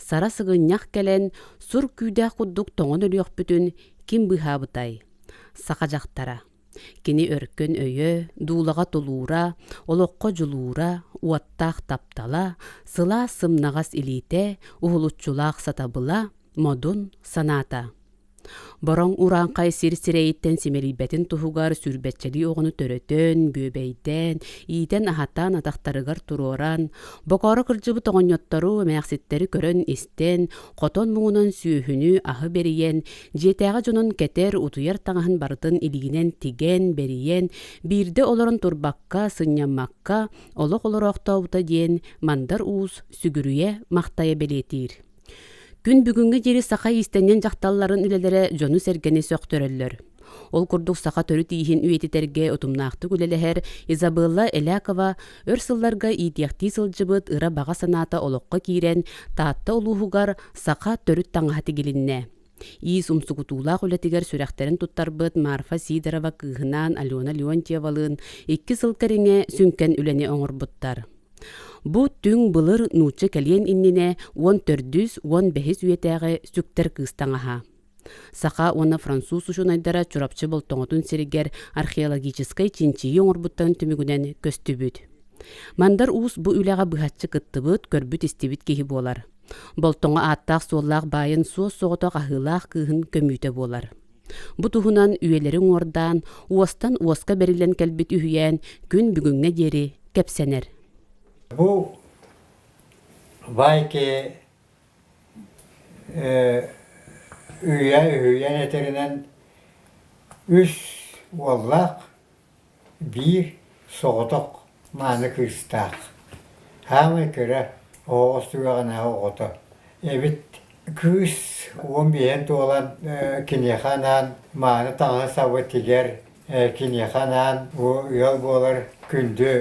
Сара сыгынньах кэлэн, сур күүдээх курдук тоҥон өлүөхпүтүн ким быыһаабытай? Саха дьахтара. Кини өркөн өйө, дуулаҕа тулуура, олоххо дьулуура, уоттаах таптала, сылаас сымнаҕас илиитэ, уһулуччулаах сатабыла, модун санаата. Бороҥ урааҥхай сир сирэйиттэн симэлийбэтин туһугар сүүрбэччэлии оҕону төрөтөн, бүөбэйдээн, иитэн-аһатан атахтарыгар туруоран, бокоро кырдьыбыт оҕонньоттору, эмээхситтэри көрөн-истэн, хотон муҥунан сүөһүнү аһы бэрийэн, дьиэтээҕи дьонун кэтэр, утуйар таҥаһын барытын илигинэн тигэн, бэрийэн, биирдэ олорон турбакка, сынньаммакка олох олороохтообута диэн мандар уус сүгүрүйэ-махтайа бэлиэтиир. Күн бүгүҥҥэ диэри саха иистэнньэн дьахталларын үлэлэрэ дьону-сэргэни сөхтөрөллөр. Ол курдук саха төрүт ииһин үйэтитэргэ утумнаахтык үлэлэһэр Изабелла Элякова өр сылларга иитиэхтии сылдьыбыт ыра баҕа санаата олоххо киирэн Таатта улууһугар саха төрүт таҥаһа тигилиннэ. Иис умсугутуулаах үлэтигэр сүрэхтэрин туттарбыт Марфа Сидорова кыыһынаан Алена Леонтьевалыын икки сыл кэриҥэ сүҥкэн үлэни оҥорбуттар. Бу түҥ былыр нуучча кэлиэн иннинэ уон төрдүс уон бэһис үйэтээҕи сүктэр кыыс таҥаһа. Саха уонна француз учуонайдара Чурапчы Болтоҥотун сиригэр археологическай чинчийии оҥорбуттарын түмүгүнэн көстүбүт. Мандар Уус бу үлэҕэ быһаччы кыттыбыт, көрбүт-истибит киһи буолар. Болтоҥо ааттаах-суоллаах баайын суос-соҕотох аһыылаах кыыһын көмүүтэ буолар. Бу туһунан үйэлэри уҥуордаан, уостан уоска бэриллэн кэлбит үһүйээн күн бүгүҥҥэ диэри кэпсэнэр. Бу Байки үйэ үһүйээн этэринэн үс уоллаах Биир соҕотох мааны кыыстаах, саамай кыра оҕоҕо сүрэҕинээҕи оҕото эбит. Кыыс уон биэһин туолан киниэхэ анаан мааны таҥаһы-сабытыгар киниэхэ анаан бу ыал буолар күндү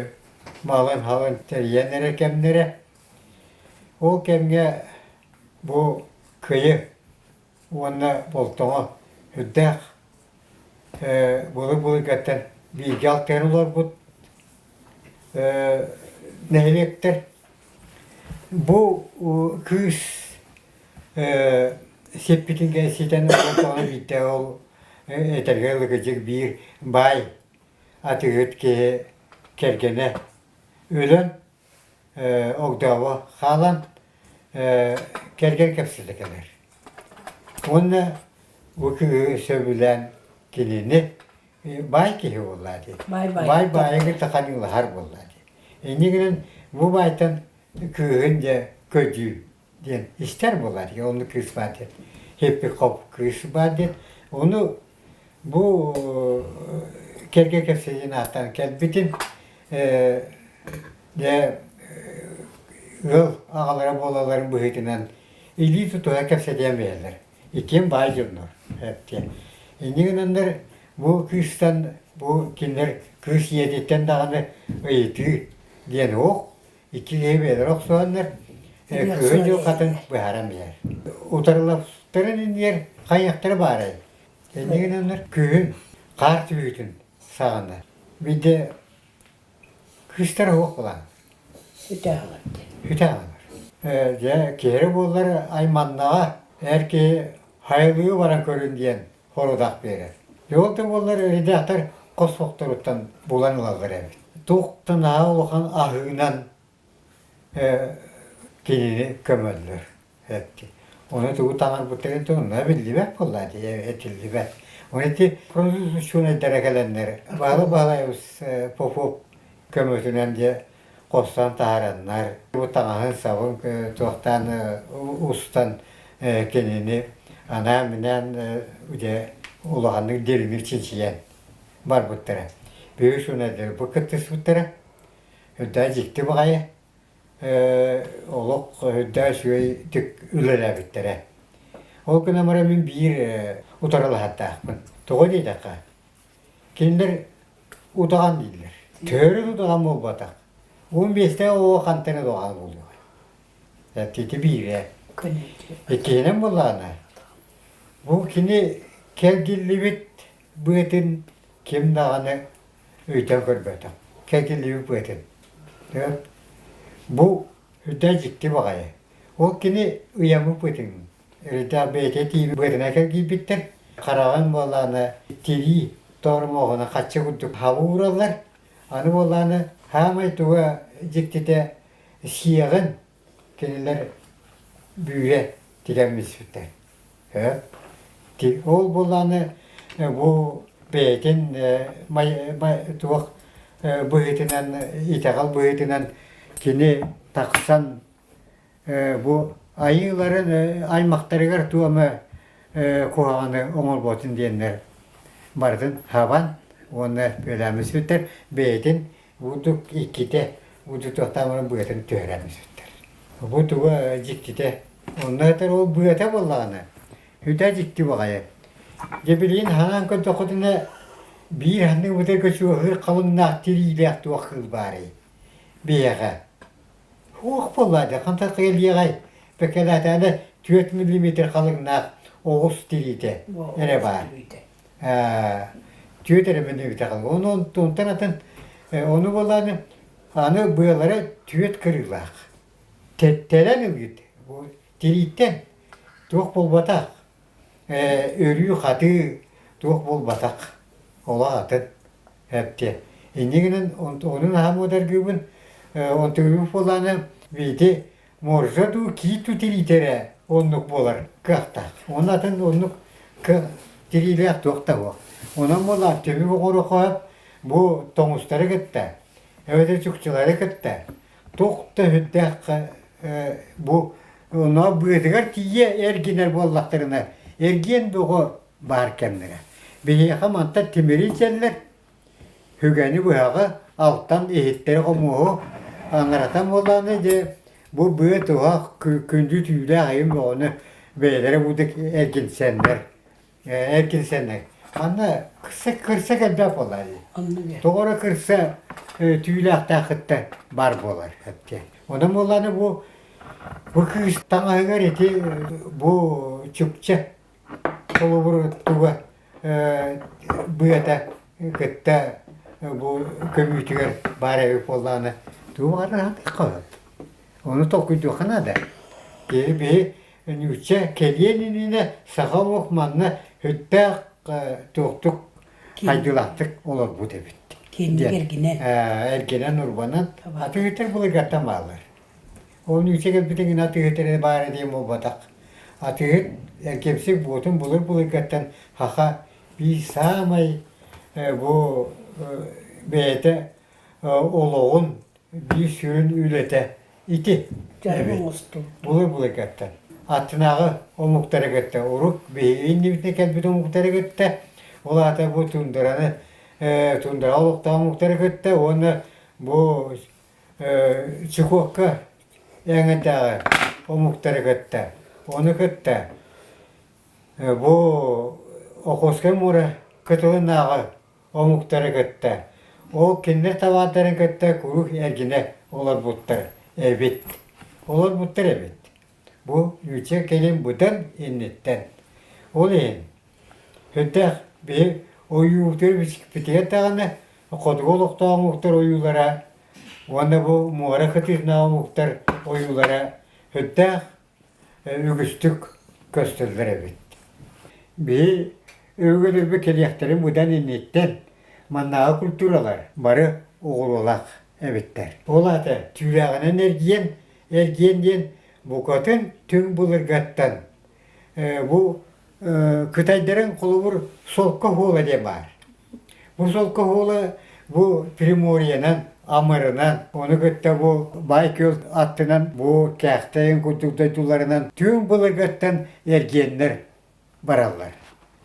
малын-халын тэрийэн эрэр кэмнэрэ. Ол кэмҥэ бу кыйы уонна Болтоҕо үрдээх былыр-былыргаттан бииргэ алтыһан олорбут нэһилиэктэр бу кыыс сиппитингэ ситэн олордоҕуна биирдэ ол этэргэ ылыгыдьык биир баай атыыһыт киһи кэргэнэ өлөн огдообо хаалан кэргэн кэпсэтэ кэлэр. Уонна бу киһи сөбүлээн кинини баай киһи буолла дии. Баай баайыгы таханыылаһар буолла дии. Иннигинэн бу баайтан кыыһын дьэ көдьүүн диэн истэр буолар. Оны кыыс баар диэн, хиппи-хоп кыыс баар диэн. Оны бу кэргэ кэпсэйин ааттан кэлбитин дэ ыал аҕалара буолаларын быһыытынан илии тутуһа кэпсэтиэн бэйэлэр. Итиэн баай дьоннор. Эптиэ. Инни гынаннар бу кыыстан бу кинилэр кыыс ийэтиттэн даҕаны ыйытыы диэн оһх Иккилиһи бэйэлэрэ охсуһаллар, Кыһын дьылҕатын быһааран билэр. Утарылаптарын иннигэр хайыахтара баарай? Итиннэ гынаннар күһүн хаар түбүүтүн саҕанар. Бидэ кыыстара суох буолан. Үтэ аҕалар. Дьэ, киһирэ буоллар айманнаҕа, эр киһи хайалыы баран көрүн диэн хоруодах биэрэр. Ол да буоллар өрүдээхтэр хос сохторуттан булан ылаллар эбит. Туохтан аһа улахан аһыынан кинини көмөллөр эти. Оны тугу таҥарбыттарын тонна биллибэт буолла дии этиллибэт. Оны ти прозусучунайдара кэлэннэр баала баалайбыс попоп көмөтүнэн де хостон таһараннар, таҥаһын-сабын туохтаан устан кинини анаан-минээн дьэ улаханнык дириҥир чинчийэн барбыттара. Үһүс өнөрдөрү бу кыттыспыттара. Үрдээ дьикти баҕайы олох үрдээ үчүгэй тик үлэлээбиттэрэ. Ол гынан баран мин биир утарылаһардаахпын. Тоҕо диэтэххэ, Кинилэр утаҕан дииллэр. Төрүт утаҕан буолбатах. Уон биэстээх оҕо хантан эрэ утаҕан буолуо. Эттиити биирэ. Иккиһинэн буоллаҕына, бу кини кэлгиллибит быатын ким даҕаны ыйтан көрбөтөх. Кэлгиллибит быатын. Бу үрдэ дьикти баҕайы. Ол кини ыйаммыт быатын Өрүтэ бэйэтэ тииби быатына кэлгийбиттэр. Хараҕын буоллаана тирии тормоҕуна хачча курдук хабуураллар. Аны буоллаана саамай туга дьиктитэ сиэҕин кинилэр бүүрэ тигэммиспиттэр. Ол буоллаана бу бэйэтин туох быһыытынан итэҕэл быһыытынан кини тахсан бу айыыларын аймахтарыгар туома куһаҕаны оҥорботун диэннэр барытын хабан уонна бүөлээммин сүттэр бэйэтин бурдук иккитэ удьутуохтаах быатын түһэрэммин сүттэр бу туга дьиктитэ онно этэр ол быата буоллаҕына үтэ дьикти баҕайы дьэ билигин ханаан көрдөххүтүнэ биир ханнык быта көчүөһүр халыҥнаах тириилээх туох кыыл баарый биһиэхэ Уох буоллаадьа, хантан кыйылыйаҕай? Бэкэлээтээдэ түөрт миллиметр халыҥнаах оҕус тириитэ эрэ баар. Ээ, түөрт эрэ миллиметр халыҥ. Ону онтуттан атын ону буоллаан аны быалара түөрт кырыылаах. Тэттэрэн ылыыт. Тирииттэн туох буолбатах. Өрүү-хатыы туох буолбатах, олох атын эттиэ. Инньэ гынан оннун наһаа муодаргыыбын. Онтубут буоллаана Вити можешь дуу кииту тириитэрэ оннук буолар кыахтаах. Уонна атын оннук тириилээх туох да суох. Онон буоллаан төбө оҕуруохаһыт бу тоҥустары кытта, эбэтэр чукчулары кытта Туох да сүрдээх бу онно быатыгар тиийэ эргинэр буоллахтарына, эргиэн бөҕө баар кэмнэрэ. Биһиэхэ мантан тимири ичэллэр, сүгэни быһаҕы алтан иһиттэри хомуоһу аҥаратан буоллаҕына дии бу быа туһах күндү түүлээх айым бөҕөнү бэйэлэрэ курдук эргинсэннэр Ээ, кирсэнэ. Ханна кырса кырса кэлбэт буолар. Тоҕо эрэ кырса э, түүлээхтээхиттэн бар буолар эптиэн. Онон буолланы бу бу кыыс таҥаһыгар ити бу чукча холобур туга э, быата кытта бу көбүүтүгэр баар эбит буоллаҕына тугу арааһын хаһыт. Ону толкуйдуохха наада. Киһи биһи Ньуучча кэлиэн иннинэ саха олох манна сүттээх туохтук хайдылаахтык олорбут эбит. Кэнник эргинэн. Эргинэн урбанан атыытыр былыргаттан баалар. Ол ньуучча кэлбитин гына атыытыр баара диэн буолбатах. Атыыт эргимсик буотун былыр былыргаттан хаха бии саамай бу бэйэтэ олоҕун Биир сүрүн үлэтэ ити. Эбит. оҥостуу. Була-була кэттэн. Аттынааҕы омуктары кытта урук биһиги иннибитинэн кэлбит омуктары кытта, ол аата бу тундараны э, тундара олохтоох омуктары кытта уонна бу э, Чукокка эҥэтээҕи омуктары кытта ону кытта э, бу Охотскай муора кытылынааҕы омуктары кытта, ол кинилэр табаардарын кытта куруук эргинэ олорбуттар эбит. Олорбуттар эбит. Бу Люча кэлин быдан инниттэн. Ол иһин Хүрдэх биһи ойуурдары бичикпитигэр даҕаны хотугу олохтоох омуктар ойуулара уонна бу муора кытыытынааҕы омуктар ойуулара Хүрдээх үгүстүк көстөллөр эбит. Били өйгөтөрбө кэлиэхтэрин быдан инниттэн маннааҕы культуралар бары оҕуруолаах эбиттэр. Ол аата түүлээҕинэн эргийэн, эргиэн диэн букатын түҥ былыргаттан бу Кытайдарын холобур солко оһуола диэн баар. Бу солко оһуола бу Приморьенан, Амырынан, ону кытта бу Байкөл аттынан, бу Кээхтэйин курдук дойдуларынан түҥ былыргаттан эргиэннэр бараллар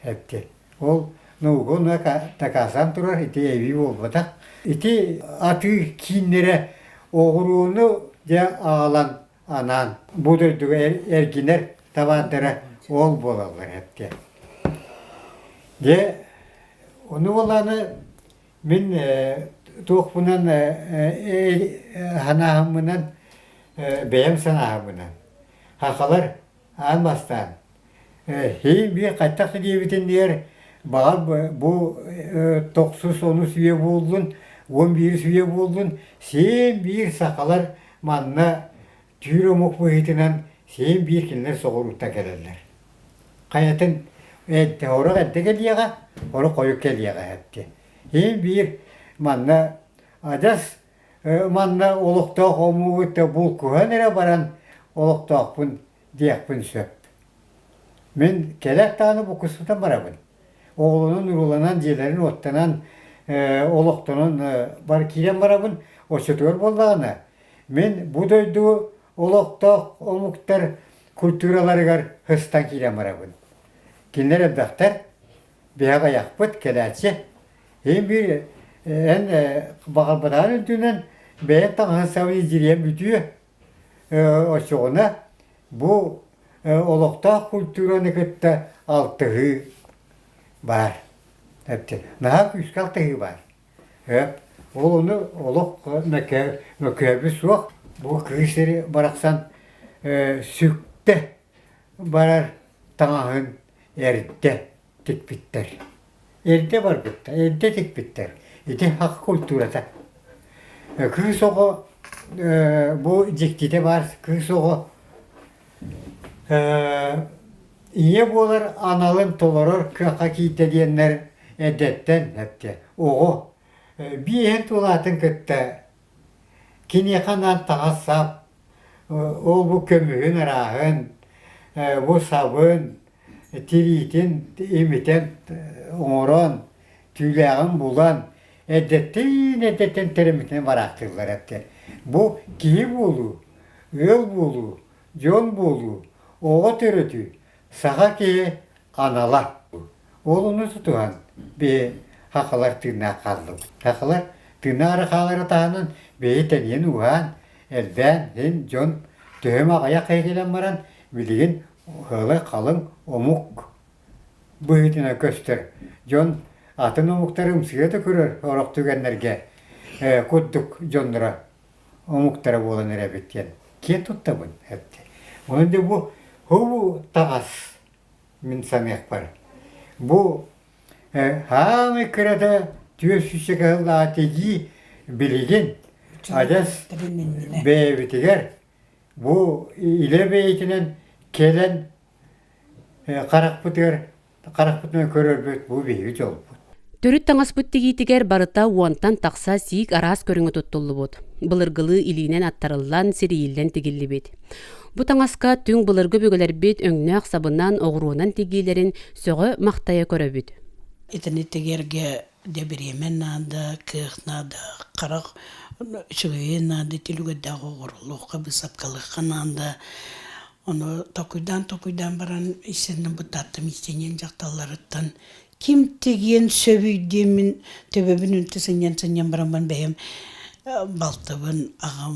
эбти. Ол наугуна такаасан турар ити эбии буолбатах. Ити атыы кииннэрэ оҕуруону дьэ аҕалан анаан бу дойдуга эргинэр табаардара ол буолаллар эттэ дьэ ону буолааны мин туохпунан санаабынан бэйэм санаабынан хахалар аан бастаан сии-бии хайдах диэбитин диһэр баҕар бу тохсус онус үйэ буоллун уон биирис үйэ буоллун сиэн-биир сахалар манна түүр омук быһыытынан сиэн-биир кинилэр соҕурууттан кэлэллэр хайатын орук эрдэ кэлиэҕэ орук хойут кэлиэҕэ эттиэн сиэн-биир манна адьас манна олохтоох омуу кытта булкуһан эрэ баран олохтоохпун диэхпин сөп. Мин кэлэр даҕаны буккуспутан барабын. Оҕолонон, урууланан, дьиэлэрин оттонон, олохтонон бары киирэн барабын. Оччотугар буоллаҕына, мин бу дойду олохтоох омуктар культураларыгар һыстан киирэн барабын. Кинилэр элбэхтэр, бэйэҕэ айахпыт кэлээччи ин-биир эн баҕарбатаҕын үрдүнэн бэйэ таҥаһы-сабыы дьириэн бүтүө оччоҕуна бу олохтоох культураны кытта алтыһыы баар наһаа күүскэ алтыһыы баар ол ону олох мөккөөбү суох бу кыыс сири барахсан сүктэ барар таҥаһын эрдэ тикпиттэр. Эрдэ барбыттар, эрдэ тикпиттэр. Ити хақ культурата. Кыыс оҕо бу дьиктитэ баар кыыс оҕо ийэ буолар аналын толорор кыахха киирдэ диэннэр эдэртэн эттэ оҕо биэһин тулаатын кытта Киниэхэ анаан таҥас сап, ол-бу көмүһүн арааһын, бу сабын, тириитин имитэн оҥорон, түүлээҕин булан, эрдэттэн эрдэттэн тэриммитинэн бараахтыыллар эттэр. Бу киһи буолуу, ыал буолуу, дьон буолуу, оҕо төрөтүү Саха киһи анала уолуну тутуһан бэйэ хахалар тыыннаах хааллыбыт. Хахалар тыыннаары хаалара таһынан бэйэ тэнийэн ууһаан, элбээн син дьон төһөм аҕыйах кэлэн баран билигин халыҥ омук быһыытынан көстөр. Дьон атын омуктары ымсыга да көрөр орох түгэннэргэ курдук дьонноро омуктара буолан эрэбит диэн киэн туттабын эттэ. Ону дьэ бу бу таҕас мин саныахпар. Бу хаамый кырата түөсүчэ кыһыллаатигии билигин адьас бэйэбитигэр бу илэ бэйэтинэн кэлэн харахпытыгар Харахпытынан көрөрбүт бу биһиги дьолбут. Төрүт таҥаспыт тигиитигэр барыта уонтан тахса сиик араас көрүҥэ туттуллубут. Былыргылыы илиинэн аттарыллан, сирийиллэн тигиллибит. Бу таҥаска түҥ былыргы бүгүлэрбит өҥнөөх сабынан, оҕуруонан тигиилэрин сөҕө-махтайа көрөбүт. Итини тигэргэ Дьэ бириэмэ наада, кыах наада, харах үчүгэйи наада, түлүгэрдээх оҕоруохха, быысапкалыахха наада. Ону токуйдаан-токуйдаан баран истэннэ бытааттым истиниэн дьахталларыттан ким тигиэн сөбүйдиэмин төбөбүн үнтү сынньан сынньан баран бэйэм балтыбын аҕам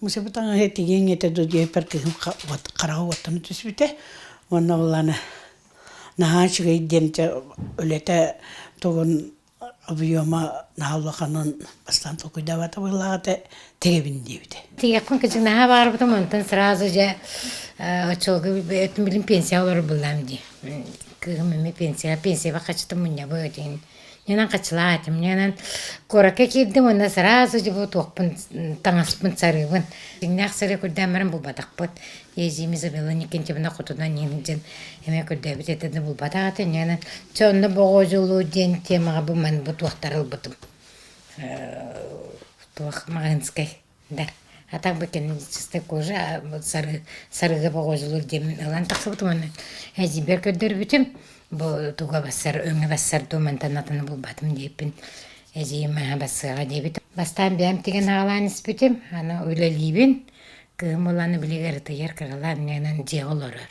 Мусеба таҥаһы тигиэҥ этэ дуу диэппэр кыһын уот хараҕа уоттана түспүтэ уонна улаана наһаа үчүгэй диэн дьэ үлэтэ тугун объема наһаа улаханын бастаан толкуйдаабата быһылаах этэ тигэбин диэбитэ тигиэхпин кичик наһаа баарбытым онтон сразу же оччолго этим билин пенсияҕа олорбуллаам дии кыыһым эмиэ пенсияҕа пенсияҕа хачытым мунньабы этин Ньанан хаччылаатым, ньанан куоракка киирдим уонна сразу же бу туохпун таҥаспын сарыыбын. Дьиҥнээх сырыы көрдөөн баран булбатахпыт. Эдьиим Изабелла Никитична хотунан иһилдьин эмиэ көрдөөбүт этэ да булбатах этэ ньанан чэ онно боҕодьулуу диэн темаҕа бу манбы туохтары ылбытым. Туох маҕаһыынскай да а так бы кинематографическая кожа сары сарыыга боҕуодьулуур диэн мин ылан тахсыбытым уонна эдьиийбэр көрдөрбүтүм бу туга бассар өҥө бассар дуу мантан атыны булбатым диэппин эдьиийим маһа бассыаҕа диэбит бастаан бэйэм тигэн аҕалаан испитим аны үлэлиибин кыым ылан билигэр ытыйар кыралаан иннэнэн дьиэҕэ олорор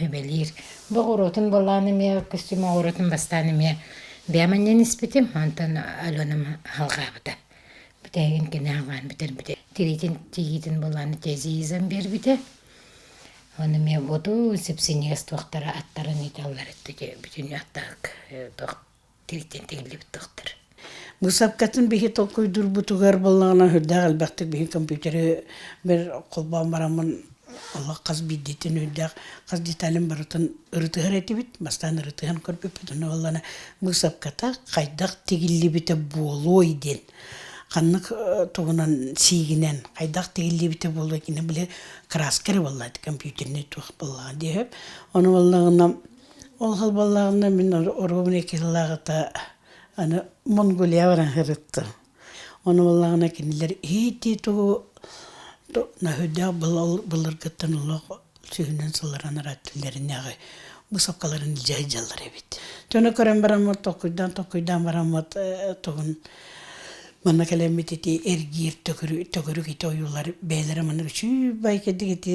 Эбэлиир. Бу оҕуруотун булаан эмиэ костюм оҕуруотун бастаан эмиэ бэйэм анньан испитим, онтон Аленам алҕаабыта. Бүтээгин кини алҕаан бүтэрбитэ. Тириитин тииитин булаан тезизам биэрбитэ. Ону эмиэ буоту сипсиниэс туохтара аттарын ыыталлар бүтүн аттаах тириитин тигиллибит тахтар быысапкатын биһи толкуйдурбутугар буллаҕына үрдээх элбэхтик биһи компьютеры бир холбоон бараммын олох хас биирдитин үрдээх хас деталин барытын ырытыһар этибит бастаан ырытыһан көрбүппүтүн уоллана быысапката хайдах тигиллибитэ буолуой диэн ханнык тугунан сиигинэн хайдах тигиллибитэ буолуой кини били краска эрэ буолла компьютерный туох буоллаҕа диэһэп ону буоллаҕына Ол холболлоҕунна мин оруобуна икки сыллааҕыта аны Монголия баран сырыттым. Ону буоллаҕына кинилэр иһии-тии тугу наһыйдах былыргыттан олох сүүһүнэн сылларан арааттыннарынааҕы бусуккаларын илдьэ сылдьаллар эбит. Дьону көрөн бараммыт толкуйдаан-толкуйдаан бараммыт тугун манна кэлэммит ити эргиир төгүрүк ити ойуулар бэйэлэрэ маннык үчүгэй кэлдик ити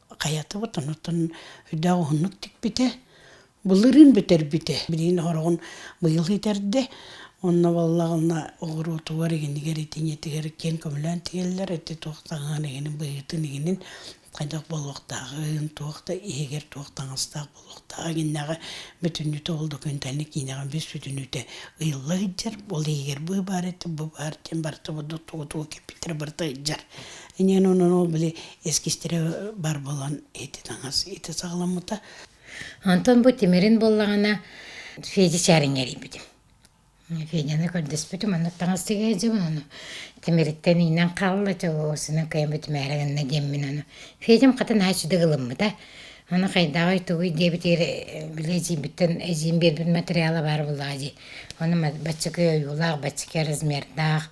хайатыбыт онтон өйдөөх уһуннук тикпитэ былырыын бүтэрбитэ билигин ороҕун быйыл иитэрдэ онно баллаҕына оҕуруотугар игинигэр итиниэтигэр киэн көмөлөөн тигэллэр ити туох таҥаһын игинин быһыытын игинин хайдах буолуохтааҕын туох да иһигэр туох таҥастаах туохтаах иннэҕэ бүтүннүтэ ол документальный киинэҕэ бис бүтүннүтэ ыйылла сылдьар ол иһигэр бу баар этэ бу баар диэн барыта бурдук тугу тугу кэппиттэрэ барыта ыйдьар инэн онон ол били эскистэрэ бар болон ити таҥас ити саҕаламмыта Антон бу тимирин буллаҕына Федя чарингерийбитим. Феняны көрдөспүтүм маннык таҥас тигээт дьыбын ону тимириттэн иинэн хаалла дьэ оо синэн кыйаммыт имээри гынна диэммин аны Федям хата нааччыдык ылыммыта аны хайдааҕый тугуй диэбитигэр били эдьиийбиттэн эдьиийим биэрбит материала баар буоллаҕа дии ону баччакы ойуулаах баччакы размердаах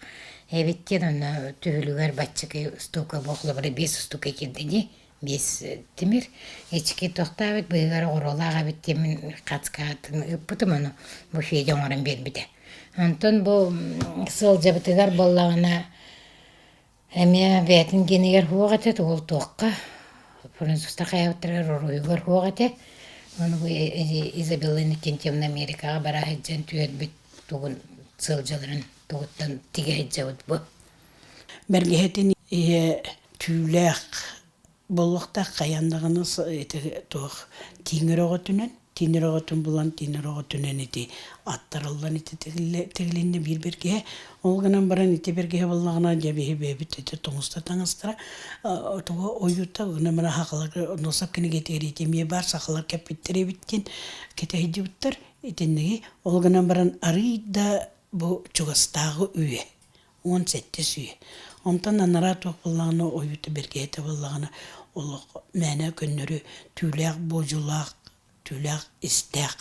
эбит диэн онно түһүлүгэр баччакы устуука бу холобура биэс устуука киирдэ дии биэс тимир эчики тохтообут быыһыгар оҕуруолаах эбит диэн мин хацкаатын ыыппытым ону буфете оҥорон биэрбитэ онтон бу сыалдьабытыгар буоллаҕына эмиэ бэйэтин гиэнигэр суох этэ уол туохха французтар хайаабыттарыгар уруһуйугар суох этэ ону бу изабелланы тентивна америкаҕа бара сылдьан түһэрбит тугун сыалдьаларын тугуттан тигэ сылдьабыт бу Бэргэһэтин ийэ түүлээх буолуохтаах хайаан даҕаны ити туох тииҥэр өҕөтүнэн тииҥэр өҕөтүн булан тииҥэр өҕөтүнэн ити аттарыллан ити тигилиннэ биир бэргэһэ ол гынан баран ити бэргэһэ буоллаҕына дьэ биһи бэйэбит ити тоҥуста таҥастара тугу ойуута гынан баран сахаларга онно сапкинигэтигэр ити эмиэ баар сахалар кэппиттэр эбит диэн кэтэһидибиттэр итинниги ол гынан баран арыый да бу чугастааҕы үйэ уон сэттэ сүүс. Онтон анараа туох буоллаҕына, ойуута бэргэһэтэ буоллаҕына, олох мээнэ көннөрү түүлээх буодьулаах, түүлээх истээх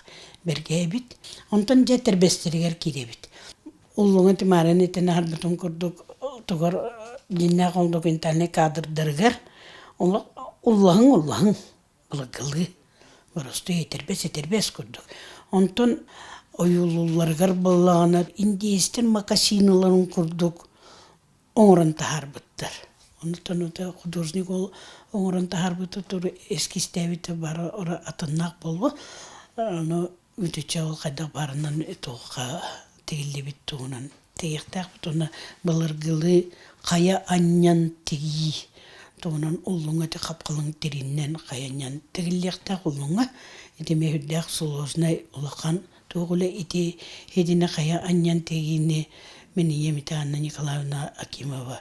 бэргэһэ эбит. Онтон дьэ тэрбэстэригэр киирэбит. Уллуҥа Тимараны итин аһарбытын курдук отугар дьиннээх ондокентальнай каадырдарыгар олох уллаһыҥ уллаһыҥ Былагылы боростуй этэрбэс-этэрбэс курдук. Онтон ойуулуулларыгар буоллаҕына индиистэр макасиналарын курдук оҥорон таһаарбыттар. Онтон это художник ол оҥорон таһаарбыта туру эскизтээбитэ бары ара атыннаах буолуо. Аны Үтүчэл хайдах барынан туохха тигиллибит туһунан тиэхтээхпит уонна былыргылыы хайа анньан тигии туһунан уллуҥа ити хапкалыҥ тириннэн хайанньан тигиллиэхтээх уллуҥа ити миһүрдээх сулуоснай улахан туох уле ити хидине хайа анньан тигиини миниемитанна Николаевна Акимова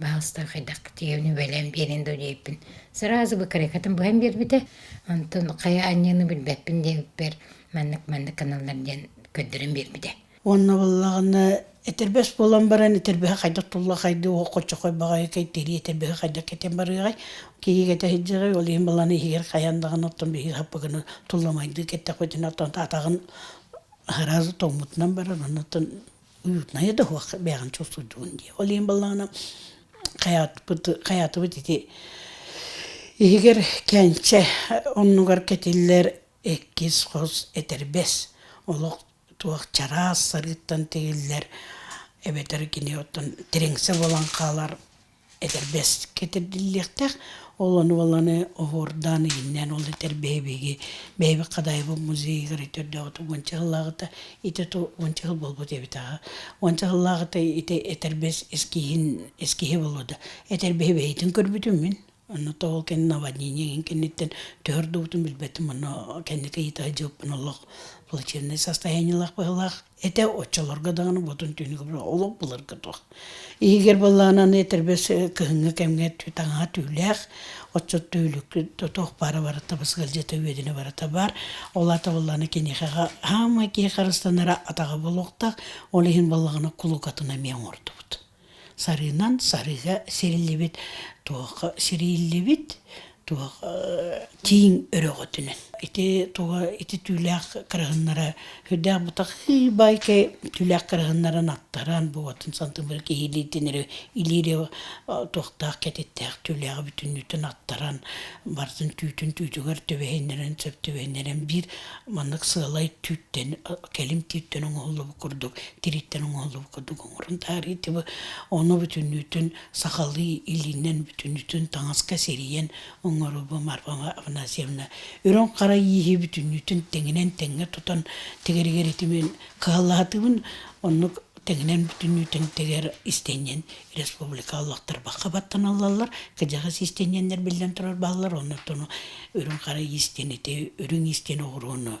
Пожалуйста, хайдах тиэвни бэлэм биэрин да диэппин. Сразу бы карикатын быһан биэрбитэ. Онтон хайа анньыыны билбэппин диэбиппэр, маннык-маннык каналлар диэн көрдөрөн биэрбитэ. Уонна буоллаҕына, этэрбэс буолан баран, этэрбэһэ хайдах туллахайды, уох хочохой баҕайы кэйтири этэрбэһэ хайдах кэтэн барыаҕай. Киһигэтэ сылдьаҕай, ол иһин баланы иһигэр хайан даҕаны оттон биһиги хаппыгыны тулламайды кэттэхпитинэ, оттон атаҕын сразу тоҥмутунан барар, оннуттан уютная да хуах бэйэҕин чох сылдьыбын дии ол иһин баллаана хаятпыт хаятыбыт ити иһигэр кэнчэ оннугар кэтиллэр иккис хос этэрбэс олох туох чараас сарыыттан тигиллэр эбэтэр кини оттон тириҥсэ буолан хаалар этэрбэс кэтэрдиллиэхтээх. Ол ону уоланы оһуордаан иһиннээн ол этэрбэһи биһиги бэйэбит Хадайбын музейыгар өтөрдөөҕүт уонча сыллааҕыта итэ ту уонча сыл буолбут эбит аҕа. Уонча сыллааҕыта ити этэрбэс эскиһин эскиһи буолуо да этэрбэһи бэйэтин көрбүтүм мин. Онно то ол кэннэ наводнение иһин кэнниттэн түһэрдубутун билбэтим онно кэнники ыйыта сылдьыбыппын олох плачевнай состояниелаах быһыылаах Этэ оччолорго даҕаны ботун түнүгү олох былыргы туох. Иһигэр былаананы этэрбэс кыһыҥҥы кэмҥэ таҥаһа түүлээх, отчут түүлүккү тотох баара барыта бысгылдьыта үөдүнэ барыта баар. Ол аата буоллааны киниэхэҕэ хаама киһи харыстанара атаҕа булуохтаах, ол иһин баллаҕана кулукатына эмиэ оҥордубут. Сарыынан сарыга сириллибит туохха сириллибит туох тииҥ өрөҕөтүнэн. Ити туга ити түүлээх кырыһыннара үрдээх бутах ый байке түүлээх кырыһыннарын аттаран буотун сантыбыр киһилиитинери илиири туохтаах кэтиттээх түүлээҕи бүтүннүүтүн аттаран бартын түүтүн түүтүгэр төбөһүннэрин сөп төбөһүннэрин биир маннык сыалай түүттэн кэлим түүттэн оҥоһуллубут курдук тириттэн оҥоһуллубут курдук Ону бүтүннүүтүн сахалыы илиинэн бүтүннүүтүн таҥаска сирийэн оҥорубум Арпама Афанасьевна. Үрүҥ хара ииһи бүтүннүүтүн тэҥинэн тэҥҥэ тутан тэгэригэр итимин кыһаллаһатыбын. Оннук тэҥинэн бүтүннүүтүн тэгэр истэнньэн республика олохтор бахха баттаналлаллар, кыдьаҕас истэнньэннэр биллэн турар бааллар, оннуктуну үрүҥ хара иистэнити, үрүҥ иистэн оҕурууну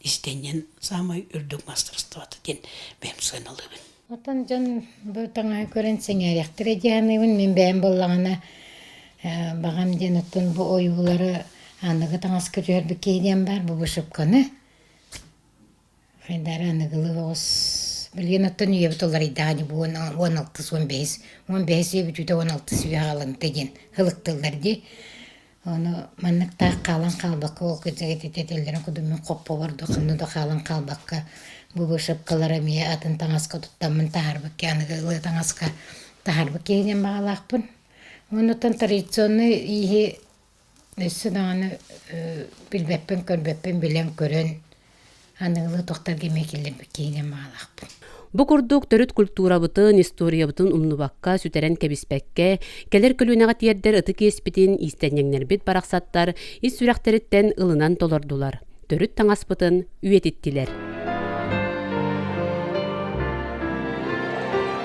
издэнньэн саамай үрдүк мастарыстыбата диэн бэйэм сыаналыыбын. Оттон дьон бу таҥаһы көрөн сэҥээриэхтэрэ дии саныыбын. Мин бэйэм буоллаҕына баҕам диэн оттон бу ойуулары аныгы таҥаска түһэрбит киһи диэн баар бу вышивканы. Хайдары аныгылыы оҕус билигин оттон үйэбит уларыйдаҕа дии бу уон алтыс уон бэһис уон бэһис үйэ бүтүүтэ уон алтыс үйэ хаалымта диэн ылыктыллар дии. Ону манныктаах хаалан хаалбакка ол кэцэгэтитэ этэллэрин кудуммун хоппобор да ханна да хаалан хаалбакка бу вышивкалары эмиэ атын таҥаска туттаммын таһаарбыт киһи аныгы ылыы таҥаска таһаарбыт киһи диэн баҕалаахпын. Оннуттан традиционнай ииһи өссө даҕаны э билбэппин-көрбөппүн билэн-көрөн аныгылыы тохторго миэкиллэммит киһинэн баҕалаахпын Бу курдук төрүт культурабытын, историябытын умнубакка, сүтэрэн кэбиспэккэ, кэлэр көлүөнэҕэ тиэрдэр ытык иэспитин иистэнньэҥнэрбит барахсаттар ис сүрэхтэриттэн ылынан толордулар, төрүт таҥаспытын үйэтиттилэр.